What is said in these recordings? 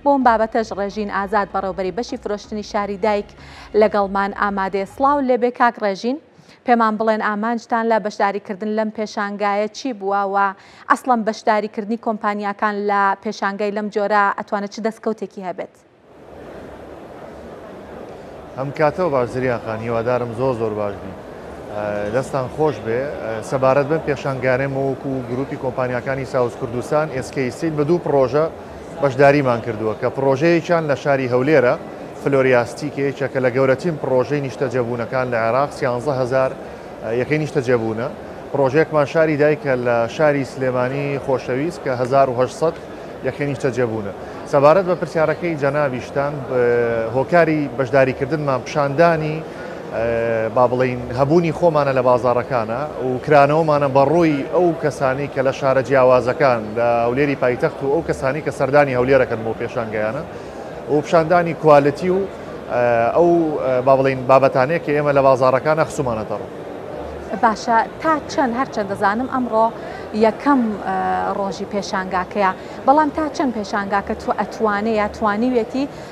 بۆ ئەم بابەتەش ڕێژین ئازاد بەڕێوبەری بەشی فرۆشتنی شاری دایک لەگەڵمان ئامادەیە سڵاو لێبێ کاک ڕێژین پێمان بڵێن ئامانجتان لە بەشداریکردن لەم پێشانگایە چی بووە و ئەسڵەن بەشداریکردنی کۆمپانیاکان لە پێشانگای لەم جۆرە ئەتوانێت چ دەستکەوتێکی هەبێت؟ ئەم کاتەوە باش زریان خان هیوادارم زۆر زۆر باش بی دەستان خۆش بێ سەبارەت بم پێشانگانێ مەوەکو و گروپی کۆمپانیەکانی ساوز کوردستان ئێسکەیسیل بە دوو پرۆژە بەشداریمان کردووە کە پڕۆژەیەکیان لە شاری هەولێرە، فلۆریاستی، کە یەکێکە لە گەورەترین پڕۆژەی نیشتەجێبوونەکان لە عێراق، سیانزە هەزار یەکەی نیشتەجێبوونە. پڕۆژەیەکمان شاری دایکە لە شاری سلێمانی خۆشەویست کە هەزار و هەشت سەد یەکەی نیشتەجێبوونە. سەبارەت بە پرسیارەکەی جەنابیشتان، هۆکاری بەشداریکردنمان پیشاندانی، با بڵێین هەبوونی خۆمانە لە بازاڕەکانە و کرانەوەمانە بە ڕووی ئەو کەسانی کە لە شارە جیاوازەکان لە هەولێری پایتەخت و ئەو کەسانی کە سەردانی هەولێرەکەن بۆ پێشانگەیانە و پیشاندانی کوالتی و ئەو با بڵین بابەتانەیە کە ئێمە لە بازارەکانە خسومانە دەڕ. باشە تا چەند هەرچەند دەزانم ئەمڕۆ یەکەم ڕۆژی پێشانگاکەیە بەڵام تا چەند پێشانگاکە تو ئەتوانێ یا توانیوێتی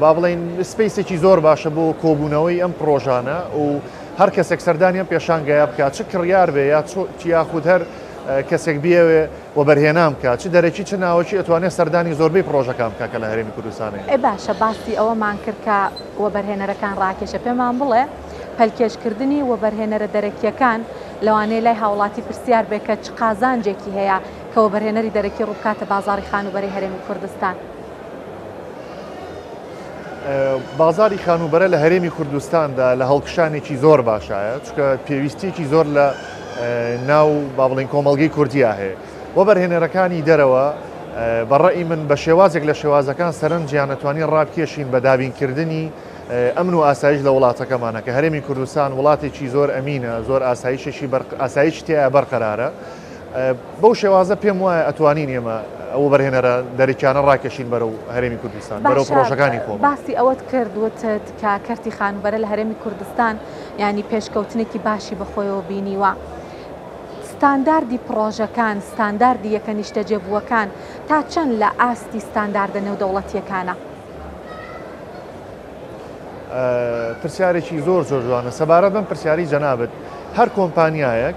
با بڵێین سپەیسێکی زۆر باشە بۆ کۆبوونەوەی ئەم پڕۆژانە و هەر کەسێک سەردانی ئەم پێشانگایە بکات چ کڕیار بێ یا یاخود هەر کەسێک بیەوێ و بەرهێنان بکە چ دەرەکی چ ناوەکی ئەتوانێت سەردانی زۆربەی پرۆژەکان بکە کە لە هەرێمی کوردستانی ئێ باشە باسی ئەوەمان کرد کە وەبەرهێنەرەکان ڕاکێشە پێمان بڵێ پەلکێشکردنی وەبەرهێنەرە دەرەکیەکان لەوانەیە لای هاوڵاتی پرسیار بێ کە چ قازانجێکی هەیە کە وەبەرهێنەری دەرەکی ڕووبکاتە بازاری خانوبەری هەرێمی کوردستان. بازاری خانووبەرە لە هەرێمی کوردستاندا لە هەڵکشانێکی زۆر باشایە چکە پێویستیەکی زۆر لە ناو با بڵین کۆمەلگەی کوردیا هەیە وە بەرهێنەرەکانی دەرەوە بەڕی من بە شێوازێک لە شێوازەکان سەرنجیان نەتوانی ڕابکێشین بە دابینکردنی ئەمن و ئاسایش لە وڵاتەکەمانە کە هەرێمی کوردستان وڵاتێکی زۆر ئەمینە زۆر ئاسایشێکی ئاسایش تیا بەرقەرارە بەو شێوازە پێم وایە ئەتوانین ئێمە ئەو وەبەرهێنەرە دەرەکیانە ڕاکێشین بەرەو هەرێمی کوردستان بەرەو باشە، پرۆژەکانی خۆمان باسی ئەوەت کرد وتت کە کەرتی خانووبەرە لە هەرێمی کوردستان یانی پێشکەوتنێکی باشی بە خۆیەوە بینیوە ستانداردی پڕۆژەکان ستانداردی یەکە نیشتەجێبووەکان تا چەند لە ئاستی ستانداردە نێودەوڵەتییەکانە؟ پرسیارێکی زۆر زۆر جوانە سەبارەت بەم پرسیاری جەنابت هەر کۆمپانیایەک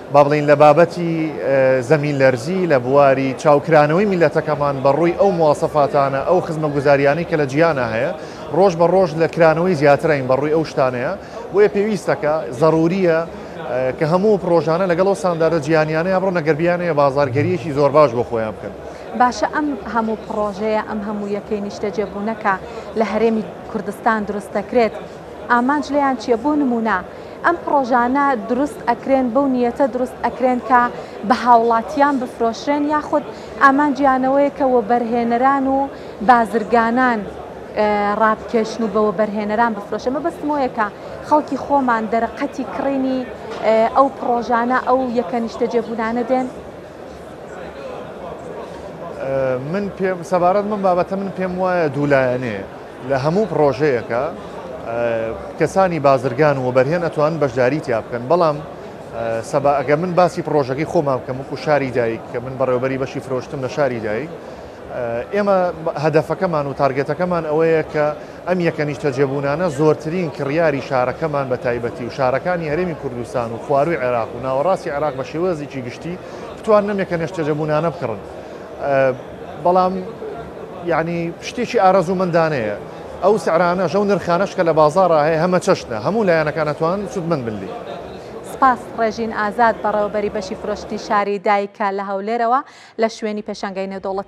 با بڵێین لە بابەتی زەمین لەرزی لە بواری چاوکرانەوەی میللەتەکەمان بە ڕووی ئەو مواسەفاتانە ئەو خزمەگوزاریانەی کە لە جیانا هەیە ڕۆژ بە ڕۆژ لە کرانەوەی زیاترین بە ڕووی ئەو شتانەیە بۆیە پێویستەکە زەروریە کە هەموو پرۆژانە لەگەڵ ئەو سانداردە جیانیانەیە بڕۆ نەگەربیانەیە بازارگەریەکی زۆر باش بۆ خۆیان بکەن. باشە ئەم هەموو پڕۆژەیە ئەم هەموو یەکەی نیشتەجێبوونەکە لە هەرێمی کوردستان دروست دەکرێت، ئامانج لێیان چیە؟ بۆ نمونە ئەم پڕۆژانە دروست ئەکرێن بەو نیەتە دروست ئەکرێن کە بە هاوڵاتیان بفرۆشرێن یاخود ئامانجیانەوەیە کە وەبەرهێنەران و بازرگانان ڕابکێشن و بە وەبەرهێنەران بفرۆشن مەبەستم وەیە کە خەڵکی خۆمان دەرەقەتی کڕینی ئەو پڕۆژانە ئەو یەکە نیشتەجێبوونانە دێن من پێم سەبارەت من بابەتە من پێم وایە دوولایەنێ لە هەموو پڕۆژەیەکە کەسانی بازرگان و وەبەرهێن ئەتوان بەشداری تیا بکەن بەڵام سەبا ئەگە من باسی پرۆژەکەی خۆمان بکەم وکو شاری دایک کە من بەڕێوبەری بەشی فرۆشتم لە شاری دایک ئێمە هەدەفەکەمان و تارگەتەکەمان ئەوەیە کە ئەم یەکە نیشتەجێبوونانە زۆرترین کڕیاری شارەکەمان بە تایبەتی و شارەکانی هەرێمی کوردستان و خواروی عێراق و ناوەڕاستی عێراق بە شێوەزیی گشتی بتوان نەمێکە نێشتەجەبوونانە بکڕن. بەڵام یەعنی شتێکی ئارەزوومەندانەیە ئەو سعرانەش ئەو نرخانەش کە لە بازاڕا هەیە هەمە چەشنە هەموو لایەنەکان ئەتوان سودمەند بن لێ. سپاس ڕێژین ئازاد بەڕێوەبەری بەشی فرۆشتنی شاری دایکە لە هەولێرەوە لە شوێنی پێشانگای نێودەوڵەتی